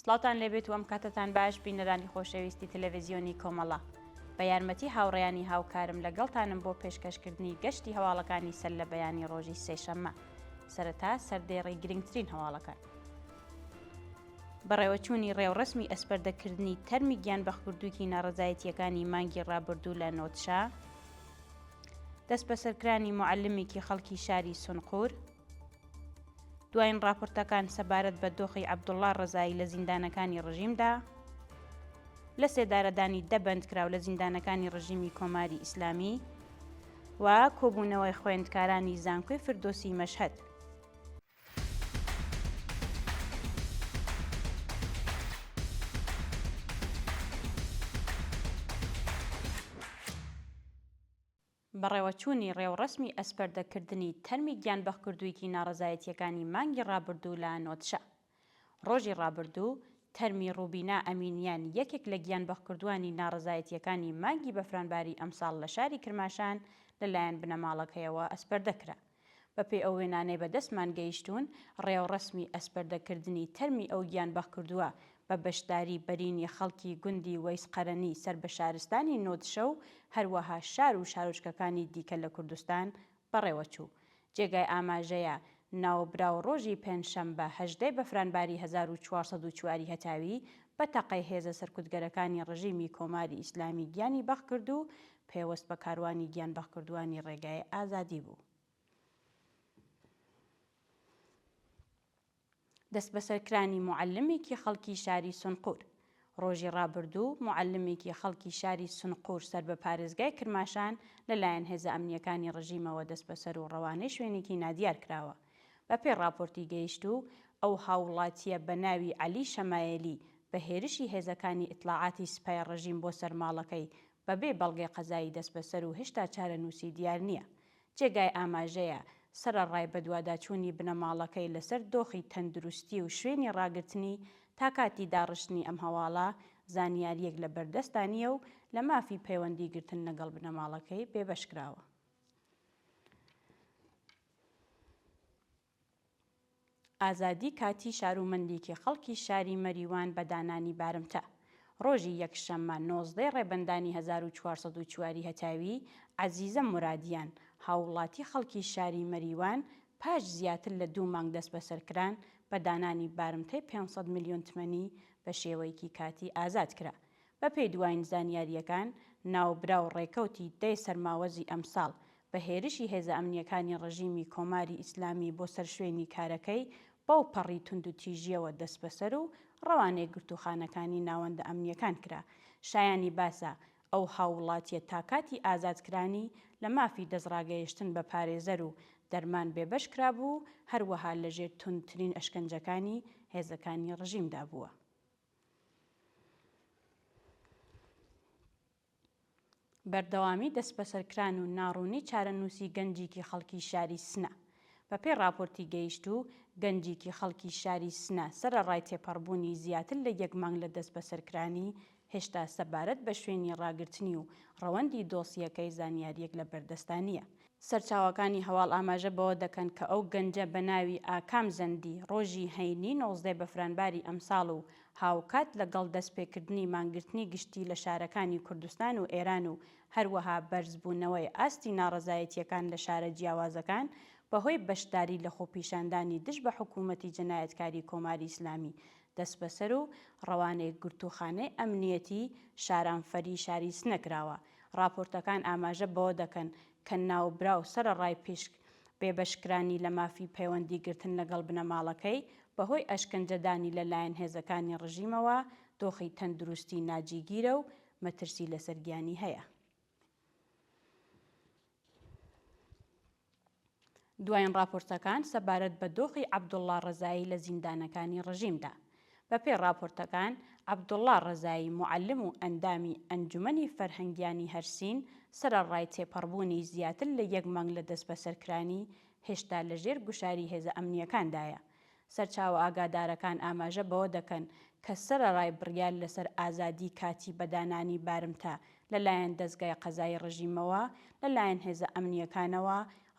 سڵاوتان لێبێت و ئەم کاتەتان باش بینەرانی خۆشەویستی تەلەڤزیۆنی کۆمەڵە. بە یارمەتی هاوڕێیانی هاوکارم لەگەڵتانم بۆ پێشکەشکردنی گەشتی هەواڵەکانی سەر لە بەیانی ڕۆژی سێشەممە. سەرەتا سەردێڕی گرنگترین هەواڵەکان. بەڕێوەچوونی ڕێوڕەسمی ئەسپەردەکردنی تەرمی گیانبەختکردوویی ناڕەزایەتییەکانی مانگی ڕابردوو لە نۆدشە، دەستبەسەرکرانی موعەلمێکی خەڵکی شاری سونقور، دوایین ڕاپۆرتەکان سەبارەت بە دۆخی عەبدوڵڵا ڕەزایی لە زیندانەکانی ڕژیمدا، لە سێدارەدانی دە بەندکراو لە زیندانەکانی ڕژیمی کۆماری ئیسلامی و کۆبوونەوەی خوێندکارانی زانکۆی فردۆسی مەشهەد. بەڕێوەچوونی ڕێوڕەسمی ئەسپەردەکردنی تەرمی گیانبەختکردوویی ناڕەزایەتییەکانی مانگی ڕابردوو لە نۆدشە. ڕۆژی ڕابردوو تەرمی ڕوبینا ئەمینیان یەکێک لە گیانبەختکردووانی ناڕەزایەتییەکانی مانگی بەفرانباری ئەمساڵ لە شاری کرماشان لەلایەن بنەماڵەکەیەوە ئەسپەردە کرا. بەپێی ئەو وێنانەی بە دەستمان گەیشتوون، ڕێوڕەسمی ئەسپەردەکردنی تەرمی ئەو گیانبەخ کردووە بە بەشداری بەرینی خەڵکی گوندی وەیس قەرەنی سەر بە شارستانی نۆدشە و هەروەها شار و شارۆچکەکانی دیکە لە کوردستان بەڕێوە چوو. جێگای ئاماژەیە ناوبراو ڕۆژی پێنجشەمبە هەژدە بەفرانباری هەزار و چوار سەد و چوار ی هەتاوی بە تەقەی هێزە سەرکوتگەرەکانی ڕژیمی کۆماری ئیسلامی گیانی بەخ کرد و پەیوەست بە کاروانی گیانبەخکردووانی ڕێگای ئازادی بوو. دەسبەسەرکرانی موعەلمێکی خەڵکی شاری سونقور ڕۆژی ڕابردوو موعەلمێکی خەڵکی شاری سنقور سەر بە پارێزگای کرماشان لەلایەن هێزە ئەمنییەکانی ڕژیمەوە دەسبەسەر و ڕەوانەی شوێنێکی نادیار کراوە. بەپێی ڕاپۆرتی گەیشتوو، ئەو هاووڵاتییە بە ناوی عەلی شەمایەلی بە هێرشی هێزەکانی ئیتلاعاتی سپای ڕژیم بۆ سەر ماڵەکەی بە بێ بەڵگەی قەزایی دەستبەسەر و هێشتا چارەنووسی دیار نییە. جێگای ئاماژەیە، سەرەڕای بەدواداچوونی بنەماڵەکەی لەسەر دۆخی تەندروستی و شوێنی ڕاگرتنی تا کاتی داڕشتنی ئەم هەواڵە، زانیارییەک لە بەردەستدا نییە و لە مافی پەیوەندی گرتن لەگەڵ بنەماڵەکەی بێبەش کراوە. ئازادی کاتی شارومەندیکی خەڵکی شاری مەریوان بە دانانی بارمتە. ڕۆژی یەکشەممە نۆزدەی ڕێبەندانی هەزار و چوار سەد و چوار ی هەتاوی، عەزیزە مورادیان، هاووڵاتی خەڵکی شاری مەریوان پاش زیاتر لە دوو مانگ دەستبەسەرکران بە دانانی بارمتەی پێنج سەد ملیۆن تمەنی بە شێوەیکی کاتی ئازاد کرا. بەپێی دوایین زانیارییەکان، ناوبراو ڕێکەوتی دەی سەرماوەزی ئەمساڵ بە هێرشی هێزە ئەمنییەکانی ڕژیمی کۆماری ئیسلامی بۆ سەر شوێنی کارەکەی بەو پەڕی توندوتیژییەوە دەسبەسەر و ڕەوانەی گرتووخانەکانی ناوەندە ئەمنییەکان کرا. شایانی باسە، ئەو هاووڵاتییە تا کاتی ئازادکرانی لە مافی دەستڕاگەیشتن بە پارێزەر و دەرمان بێبەش کرابوو و هەروەها لەژێر توندترین ئەشکەنجەکانی هێزەکانی ڕژیمدا بووە. بەردەوامی دەسبەسەرکران و ناڕوونی چارەنووسی گەنجیکی خەڵکی شاری سنە. بەپێی ڕاپۆرتی گەیشتوو، گەنجیکی خەڵکی شاری سنە سەرەڕای تێپەڕبوونی زیاتر لە یەک مانگ لە دەسبەسەرکرانی، هێشتا سەبارەت بە شوێنی ڕاگرتنی و ڕەوەندی دۆسیەکەی زانیارییەک لەبەردەستا نییە. سەرچاوەکانی هەواڵ ئاماژە بەوە دەکەن کە ئەو گەنجە بە ناوی ئاکام زەندی ڕۆژی هەینی نۆزدە بەفرانباری ئەمساڵ و هاوکات لەگەڵ دەستپێکردنی مانگرتنی گشتی لە شارەکانی کوردستان و ئێران و هەروەها بەرزبوونەوەی ئاستی ناڕەزایەتییەکان لە شارە جیاوازەکان بەهۆی بەشداری لە خۆپیشاندانی دژ بە حکوومەتی جەنایەتکاری کۆماری ئیسلامی دەستبەسەر و ڕەوانەی گرتووخانەی ئەمنییەتی شارانفەری شاری سنە کراوە. ڕاپۆرتەکان ئاماژە بەوە دەکەن کە ناوبراو سەرەڕای پشک بێبەشکرانی لە مافی پەیوەندی گرتن لەگەڵ بنەماڵەکەی، بەهۆی ئەشکەنجەدانی لەلایەن هێزەکانی ڕژیمەوە دۆخی تەندروستی ناجیگیرە و مەترسی لەسەر گیانی هەیە. دوایین ڕاپۆرتەکان سەبارەت بە دۆخی عەبدوڵڵا ڕەزایی لە زیندانەکانی ڕژیمدا، بەپێی ڕاپۆرتەکان، عەبدوڵڵا ڕەزایی موعەلم و ئەندامی ئەنجومەنی فەرهەنگیانی هەرسین سەرەڕای تێپەڕبوونی زیاتر لە یەک مانگ لە دەستبەسەرکرانی، هێشتا لەژێر گوشاری هێزە ئەمنییەکاندایە سەرچاوە ئاگادارەکان ئاماژە بەوە دەکەن کە سەرەڕای بڕیار لەسەر ئازادیی کاتی بە دانانی بارمتە لەلایەن دەزگای قەزایی ڕژیمەوە، لەلایەن هێزە ئەمنییەکانەوە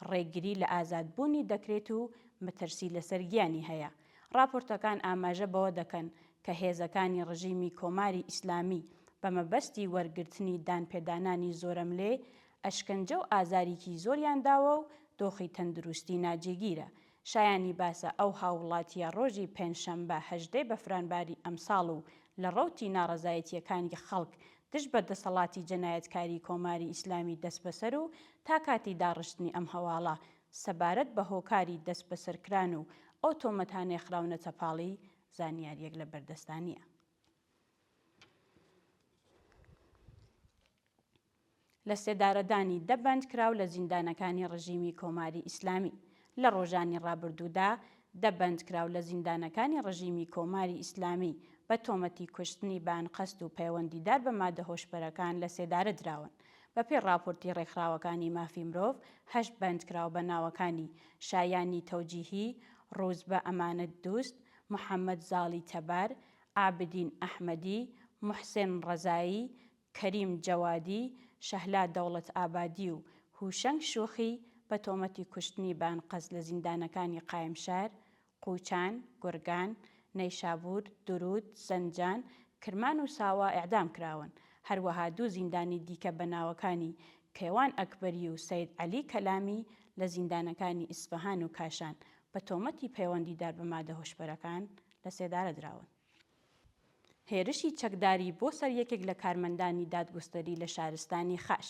ڕێگری لە ئازادبوونی دەکرێت و مەترسی لەسەر گیانی هەیە. ڕاپۆرتەکان ئاماژە بەوە دەکەن کە هێزەکانی ڕژیمی کۆماری ئیسلامی بە مەبەستی وەرگرتنی دانپێدانانی زۆرەملێ، ئەشکەنجە و ئازاریی زۆریان داوە و دۆخی تەندروستی ناجێگیرە. شایانی باسە ئەو هاووڵاتییە ڕۆژی پێنجشەممە هەژدەی بەفرانباری ئەمساڵ و لە ڕەوتی ناڕەزایەتییەکانی خەڵک دژ بە دەسەڵاتی جەنایەتکاری کۆماری ئیسلامی دەستبەسەر و تا کاتی داڕشتنی ئەم هەواڵە سەبارەت بە هۆکاری دەستبەسەرکران و ئەو تۆمەتانەی خراونەتە پاڵی زانیارییەک لە بەردەستدا نییە. لەسێدارەدانی دە بەندکراو لە زیندانەکانی ڕژیمی کۆماری ئیسلامی لە ڕۆژانی ڕابردوودا دە بەندکراو لە زیندانەکانی ڕژیمی کۆماری ئیسلامی بە تۆمەتی کوشتنی بە ئەنقەست و پەیوەندیدار بە مادە هۆشبەرەکان لە سێدارە دراون بەپێی ڕاپۆرتی ڕێکخراوەکانی مافی مرۆڤ هەشت بەندکراو بە ناوەکانی شایانی تەوجیهی ڕووزبە ئەمانەت دوست محەمەد زاڵی تەبار عابدین ئەحمەدی موحسێن ڕەزایی کەریم جەوادی، شەهلا دەوڵەت ئابادی و هوشەنگ شوخی بە تۆمەتی کوشتنی بە ئەنقەست لە زیندانەکانی قایمشار، قوچان، گورگان، نەیشابور، دروود، زەنجان، کرمان و ساوا ئێعدام کراون، هەروەها دوو زیندانی دیکە بە ناوەکانی کەیوان ئەکبەری و سەید عەلی کەلامی لە زیندانەکانی ئیسفەهان و کاشان بە تۆمەتی پەیوەندیدار بە مادە هۆشبەرەکان لە سێدارە دراون. هێرشی چەکداری بۆ سەر یەکێک لە کارمەندانی دادگوستەری لە شارستانی خاش.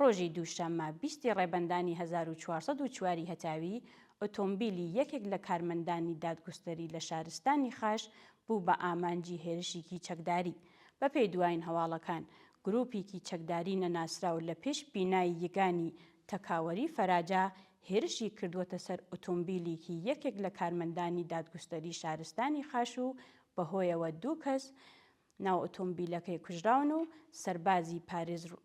ڕۆژی دووشەممە بیست ی ڕێبەندانی هەزار و چوار سەد و چوار ی هەتاوی، ئۆتۆمبیلی یەکێک لە کارمەندانی دادگوستەری لە شارستانی خاش بوو بە ئامانجی هێرشیکی چەکداری. بە پێی دوایین هەواڵەکان، گروپیکی چەکداری نەناسراو لە پێش بینای یگانی تەکاوەری فەراجا هێرشی کردووەتە سەر ئۆتۆمبیلیکی یەکێک لە کارمەندانی دادگوستەری شارستانی خاش و بەهۆیەوە دوو کەس ناو ئۆتۆمبیلەکەی کوژراون و سەربازی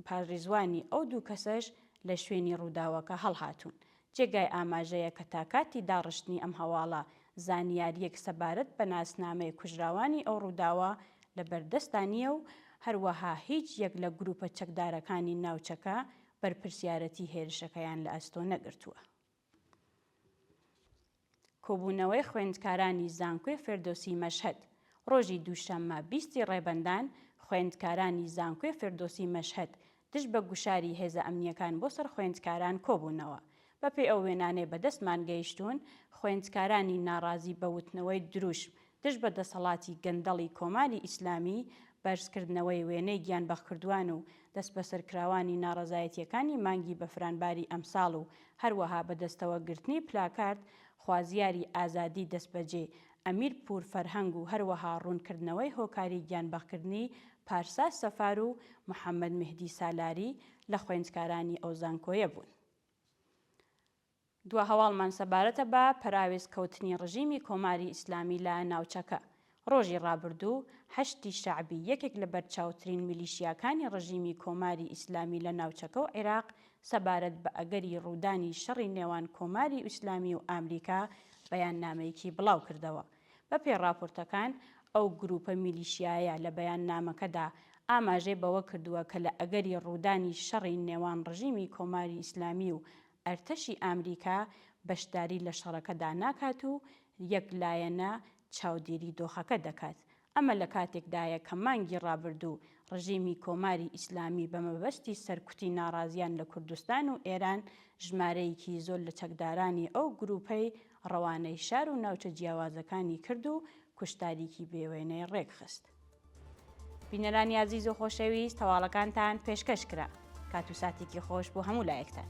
پاریزوانی ئەو دوو کەسەش لە شوێنی رووداوەکە هەڵهاتوون. جێگای ئاماژەیە کە تا کاتی داڕشتنی ئەم هەواڵە زانیارییەک سەبارەت بە ناسنامەی کوژراوانی ئەو رووداوە لەبەردەستدا نییە و هەروەها هیچ یەک لە گرووپە چەکدارەکانی ناوچەکە بەرپرسیارەتی هێرشەکەیان لە ئەستۆ نەگرتووە. کۆبوونەوەی خوێندکارانی زانکۆی فێردۆسی مەشهەد، ڕۆژی دووشەممە بیست ی ڕێبەندان، خوێندکارانی زانکۆی فێردۆسی مەشهەد دژ بە گوشاری هێزە ئەمنییەکان بۆ سەر خوێندکاران کۆبوونەوە بەپێی ئەو وێنانەی بەدەستمان گەیشتوون، خوێندکارانی ناڕازی بە وتنەوەی دروشم دژ بە دەسەڵاتی گەندەڵی کۆماری ئیسلامی، بەرزکردنەوەی وێنەی گیانبەختکردوان و دەستبەسەرکراوانی ناڕەزایەتییەکانی مانگی بەفرانباری ئەمساڵ و هەروەها بەدەستەوە گرتنی پلاکارد خوازیاری ئازادی دەستبەجێ ئەمیر پوور فەرهەنگ و هەروەها ڕوونکردنەوەی هۆکاری گیانبەختکردنی پارسا سەفار و محەممەد مێهدی سالاری لە خوێندکارانی ئەو زانکۆیە بوون. دوا هەواڵمان سەبارەتە بە پەراوێز کەوتنی ڕژیمی کۆماری ئیسلامی لە ناوچەکە. ڕۆژی ڕابردوو حەشدی شەعبی یەکێک لە بەرچاوترین میلیشیاکانی ڕژیمی کۆماری ئیسلامی لە ناوچەکە و عیراق سەبارەت بە ئەگەری ڕوودانی شەڕی نێوان کۆماری ئیسلامی و ئامریکا بەیاننامەیەکی بڵاوکردەوە بەپێی ڕاپۆرتەکان، ئەو گرووپە میلیشیایە لە بەیاننامەکەدا ئاماژەی بەوە کردووە کە لە ئەگەری ڕوودانی شەڕی نێوان ڕژیمی کۆماری ئیسلامی و ئەرتەشی ئامریکا بەشداری لە شەڕەکەدا ناکات و یەک لایەنە چاودێری دۆخەکە دەکات. ئەمە لە کاتێکدایە کە مانگی ڕابردوو ڕژیمی کۆماری ئیسلامی بە مەبەستی سەرکوتی ناڕازیان لە کوردستان و ئێران ژمارەیەکی زۆر لە چەکدارانی ئەو گرووپەی ڕەوانەی شار و ناوچە جیاوازەکانی کرد و کوشتاریکی بێوێنەی ڕێکخست. بینەرانی ئازیز و خۆشەویست هەواڵەکانتان پێشکەش کرا کات و ساتێکی خۆش بۆ هەموو لایەکتان.